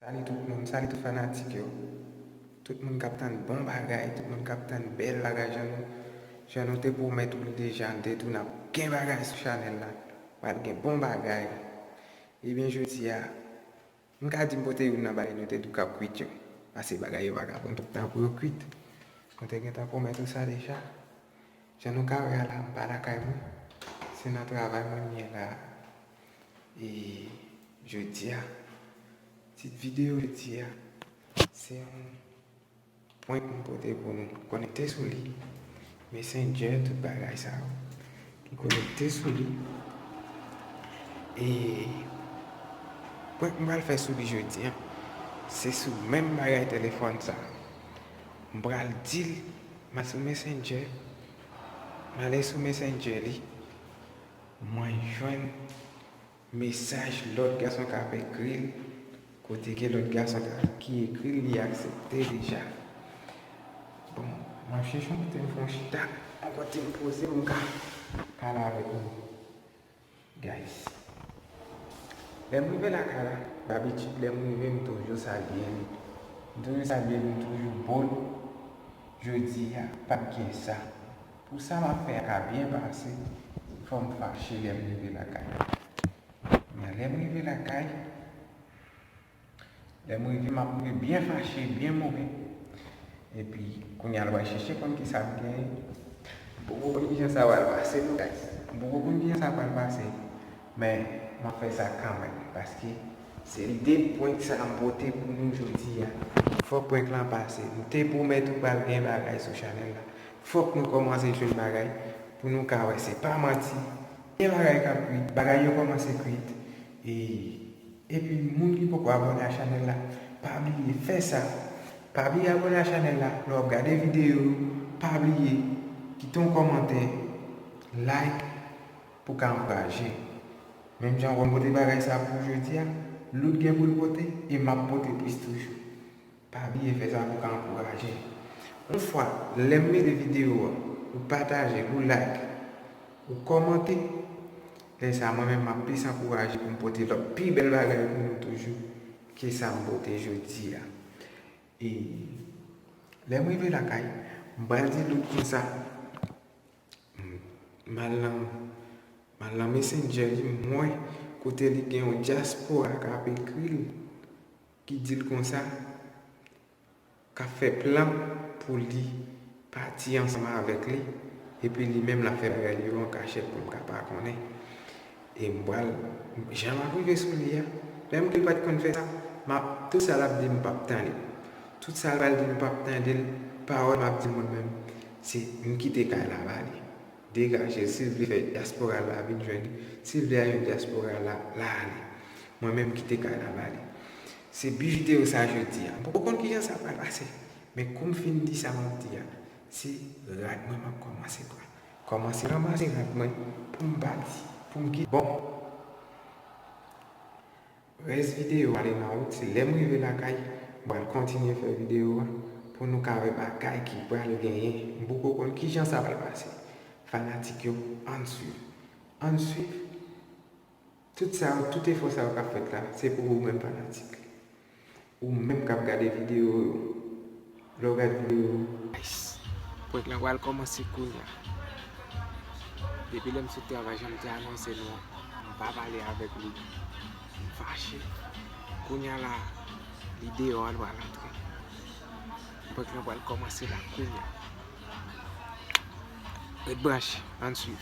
Salut tout moun salut tout fanatik yo tout moun kap tann bon bagay tout moun kap tann bèl bagay jan nou jan nou te pwomèt ou li deja nou te di w nap gen bagay sou chanèl la pral gen bon bagay ebyen jodia m ka di m pote youn nan bagay nou te di w kap kwit yo pase bagay yo paka pran twòp tan pou yo kwit nou te gentan pwomèt ou sa deja Jan nou ka wè a la m pa lakay mwen, se nan travay mwen m ye la a. E jodi a, tit videyo jodi a, se yon prank m pote pou nou. Konekte sou li, Messenger, tout bagay sa yo. M konekte sou li. E prank m pral fè sou li jodi a, se sou menm bagay telefòn sa a. M pral di l Mwen sou messenger male sou messenger li mwen jwenn mesaj lòt gason kap ekril kote gen lòt gason ki ekril li aksepte deja bon mwen chèche yon kote m fon chita yon kote m poze m ka pale avèk nou Guys. Lèm rive lakay la dabitid lèm rive m toujou salye li. M toujou salye li m toujou bon. Jodi a pat gen sa. Pou sa map fè a ka byen pase fòm fache lèm rive lakay. Men lèm rive lakay Lè m rive m ap rive byen fache, byen move. Epi, kounye a l pral chèche konn ki sa m genyen. M poko konn ki jan sa pral pase non gayiz. M poko konn ki jan sa pral pase. Men, m ap fè sa kanmenm. Paske, se lide prank sa a m pote pou nou jodi a. Fòk prank lan pase. M te pwomèt ou pral gen bagay sou chanèl la. Fòk nou kòmanse jwenn bagay pou nou ka wè se pa manti. Gen bagay k ap kwit. Bagay yo kòmanse kwit. E, Epi moun ki poko abone a chanel la pa bliye fè sa pa bliye abone a chanel la lè wap gade video yo pa bliye kite yon kòmantè like pou ka ankouraje menm jan wèm pote bagay sa pou ou jodia lout gen poul pote e map pote plis toujou. Pa bliye fè sa pou ka ankouraje Yon fwa lèm mete video a ou pataje ou like ou kòmante lè sa mwen menm map plis ankouraje poum pote lòt pi bèl bagay pou nou toujou ke sam pote jodia e lèm rive lakay m pral di Luc konsa m al nan m al nan messenger li m wè kote li gen yon dyaspora kap ekril Ki dil konsa, kap fè plan pou li pati ansanm avèk li, epi li menm lap fè bagay li yo an kachèt pou m ka pa konnen. E m pral, jan map rive sou li a, menm ke l pat konn fè sa, map, tout sa lap di m pap tande. Tout sa l pral di m pap tande l, pawòl map di moun menm, se m kite kay la ba li. Degajel sil vle fè diaspora la vin jwenn li sil vle ale nan diaspora la la ale mwen menm kite kay la bali se bi video sa je di a m poko konn kijan sa pral pase men koum fin di sa map di a se rad mwen map komanse pran komanse ranmase rad mwen poum pati poum kite bon. Rès video a li nan wout se lèm rive lakay m pral kontinye fè video a pou nou ka wè bagay ki pral genyen m poko konn kijan sa pral pase fanatik yo ann swiv ann swiv tout sa yo tout efò sa yo kap fèt la se pou ou menm fanatik Ou menm kap gade video yo. Lè ou gad video yo. Nice. Prank lan pral kòmanse kounya. Depi lèm sot travay janm te anonse nou an m pa pale avèk li m fache kounya la li deyò a l pral antre prank lan pral kòmanse la kounya ret branche ann swiv.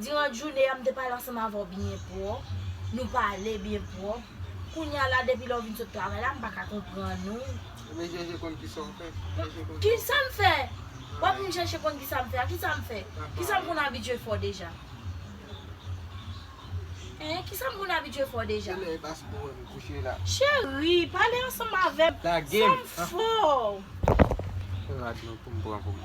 Diran joune a m te pale ansanm avè w byen pwòp, nou pale byen pwòp, kounya la depi lè w vin sot travay la m pa ka konprann ou. Ou vin chèche konn kisa w fè? Kisa m fè? W ap vin chèche konn kisa m fè a? Kisa m fè? Kisa m konn abitye fè w deja? Hein, kisa m konn abitye fè w deja? Kilè e pase pou wè m kouche la? Cheri, pale ansanm avè m, fè m fè w. Lage m! An! Fè rad nou pou m pran pou m.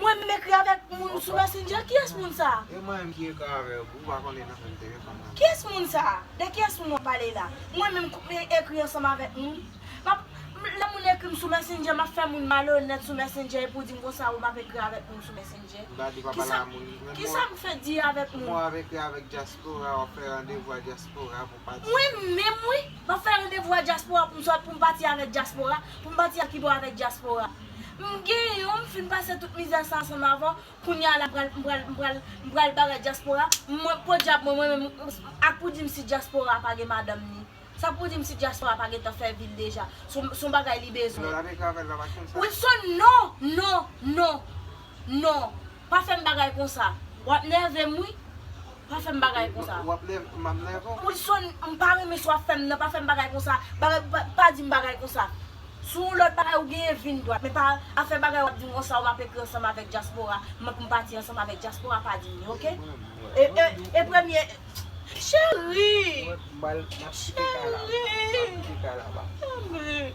Mwen menm ekri avèk moun sou messenger kiyès moun sa. E mwen menm ki ekri avèw pou ou pa konn li nan menm telefòn nan. Kiyès moun sa? De kiyès moun wap pale la? Mwen menm k ap ekri ansanm avèk moun? M ap Lè moun ekrim sou messenger m ap fè moun malonèt sou messenger epi ou dim konsa ou m ap ekri avèk moun sou messenger? M ta di pa pale ak moun. Kisa m fè di avèk moun? Kouman w ap ekri avèk diaspora w ap fè randevou a diaspora pou. Mwen menm wi, map fè randevou a dyaspora pou m sot pou m pati avèk dyaspora, pou m pati ak Ibo avèk dyaspora. M gen yon, m fin pase tout mizè sa ansanm avè w, kounye a la m pral m pral m pral m pral bagay dyaspora, mwen podyab mwen mwen menm ak pou di m si dyaspora pa gen madanm ni sa pou di m si dyaspora pa gentan fè vi l deja, s on bagay li bezwen. Wilson, non, non, non, non. Pa fèm bagay konsa. Wap nèvem wi. Pa fèm bagay konsa. Wap nèvem map nève w. Wilson m pa renmen sa wap fèm nan pa fèm bagay konsa pa dim bagay konsa si yon lòt bagay ou genyen vin dwat men pa afè bagay wap dim konsa ou map ekri ansanm avèk dyaspora m map m pati ansanm avèk dyaspora pa dim li ok e premye Cherie Cherie Cherie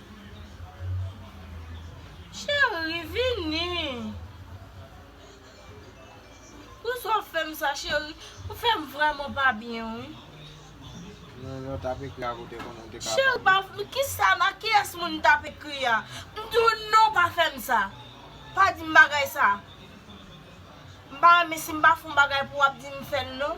Cheri vini. Pou sa w fè m sa cheri. Ou fè m vrèman pa byen wi. Mwen menm tap ekri a kote konnen m te ka pale. Cheri pa fè m kisa nan kiyès moun m tap ekri a. M di w non pa fè m sa. Pa di m bagay sa. M pa renmen si m pa fè yon bagay pou w ap di m fè l non.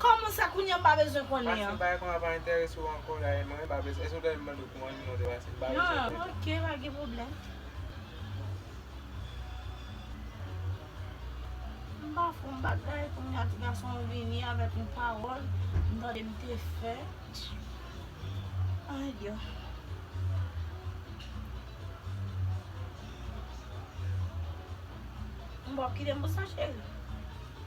Kòman sa kounya m pa bezwen konnen an. Pase bay kòman pa entèrese w ankò la e mwen pa bezwen. Èske w ta renmen m mande w kòman non w te pase m pa bezwen konnen. Nan ok pa gen pwoblèm. M pa fè yon bagay kounya ti gason an vini avèk yon pawòl m tande m te fè. Ay yo. M ba w kite m pou sa cheri.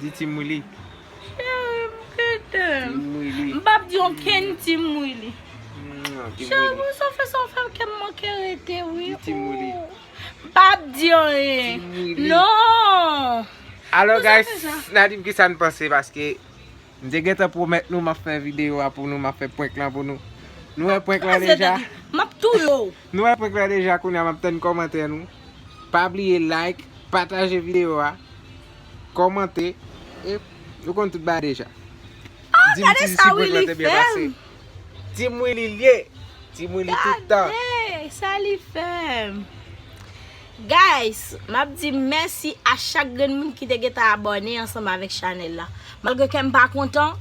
Di Team Willy. Cheri m kite'm. Team Willy. M pap di okenn Team Willy. Cheri m sa w fè sa w fè m kè m manke rete wi. Di Team Willy. M pap di anyen. Team Willy. Non. Alo guys, na di m kisa n panse paske m te gentan pwomèt nou m ap fè videyo a pou nou, m ap fè prank lan pou nou. Nou wè prank lan deja. M ap touye w. Nou wè prank lan deja kounye a m ap tann kòmantè nou. Pa bliye like, pataje videyo a. Kòmante e ou konn tout bagay deja. Ah gade sa Willy fèm. Team Willy l ye. Team Willy tout tan. Gade sa li fèm. Guys map di mèsi a chak grenn moun ki te gentan abòne ansanm avèk chanèl la. Malgre kèm pa kontan.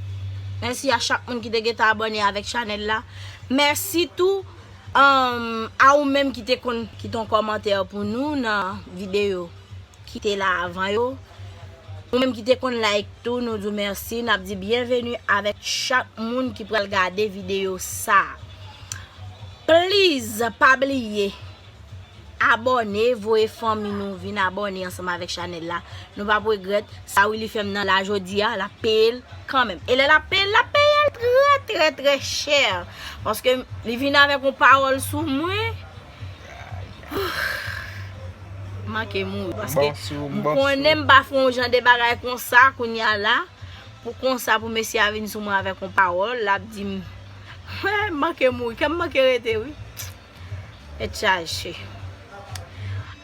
Mèsi a chak moun ki te gentan abòne avèk chanèl la. Mèsi tou a ou menm ki te konn kite yon kòmantè pou nou nan videyo. ki te la avan yo ou menm ki te konn like tou nou di w mèsi nap di byenveni avèk chak moun ki pral gade videyo sa please pa bliye abòne voye fanmi nou vin abòne ansanm avèk chanèl la nou pap regrèt sa Willy fèm nan la jodi a lap peye l kanmenm e lè lap peye l lap peye l trè trè trè chè paske li vin avèk yon pawòl sou mwen. M manke mouri paske m konnen m pa fè yon jan de bagay konsa kounya la pou konsa pou mesye a vin sou mwen avèk yon pawòl l ap di m m manke mouri kè m manke rete wi tèt chaje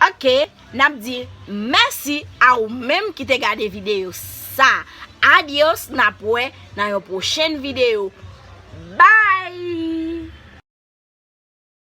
ok n ap di mèsi a ou menm ki te gade videyo sa adios n ap wè nan yon pwochen videyo bay.